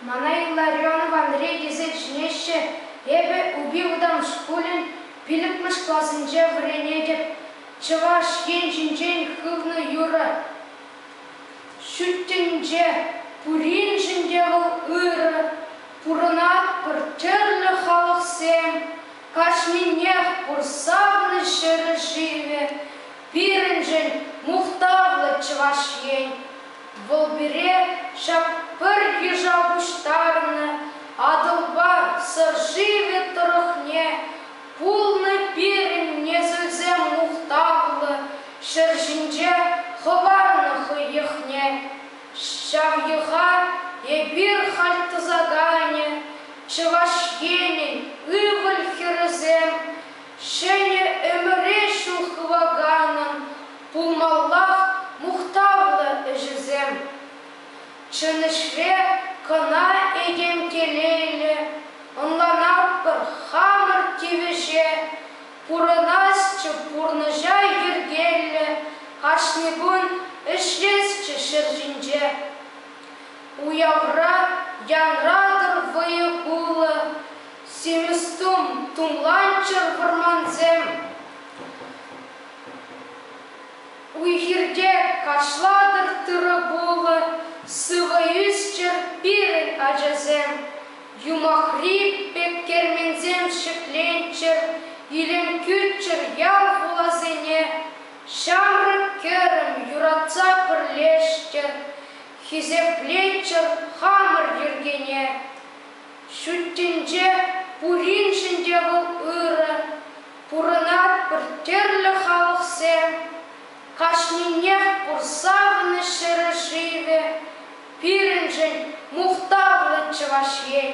Мана Илла Рионов Андрей тесе чӗнеҫҫӗ. Эпӗ Упи вӑтам шкулӗн пиллӗкмӗш классенче вӗренетӗп. Чӑваш Ен ҫинчен хывнӑ юрӑ. Ҫут тӗнче пуриншӗн те вӑл ырӑ. Пурӑнатпӑр тӗрлӗ халӑхсем, кашнинех пур савнӑ ҫӗрӗ-шывӗ, пирӗншӗн мухтавлӑ Чӑваш Ен. Вӑл пире ҫак пӗр йыша пуҫтарнӑ Атӑлпа Сӑр шывӗ тӑрӑхне пулнӑ пирӗн несӗлсем мухтавлӑ ҫӗр ҫинче хӑварнӑ хӑй йӑхне. Ҫав йӑха эпир халь тӑсаканӗ, Чӑваш Енӗн ывӑл-хӗрӗсем, ҫӗнӗ ӗмӗре ҫул хываканӑн Пулмаллах мухтавлӑ ӗҫӗсем. Чӑн ӗҫре кӑна этем телейлӗ, ӑнланатпӑр, хамӑр тивӗҫе пурӑнасчӗ, пурнӑҫа йӗркеллӗ, кашни кун ӗҫлесчӗ ҫӗр ҫинче. Уявра янратӑр вӑйӑ кулӑ, симӗс тум, тумланччӑр вӑрмансем. Уй-хирте кашлатӑр тырӑ-пулӑ сывӑ ӳсчӗр пирӗн ачасем. Юмахри пек керменсем ҫӗкленччӗр, илем кӳрччӗр ял-хуласене. Ҫамрӑк-кӗрӗм юратса пӗрлешчӗр, хисеплеччӗр хамӑр йӗркене. Ҫуттинче пуриншӗн те вӑл ырӑ, пурӑнатпӑр тӗрлӗ халӑхсем, кашнинех пур савнӑ ҫӗршывӗ, пирӗншӗн мухтавлӑ Чӑваш Ен.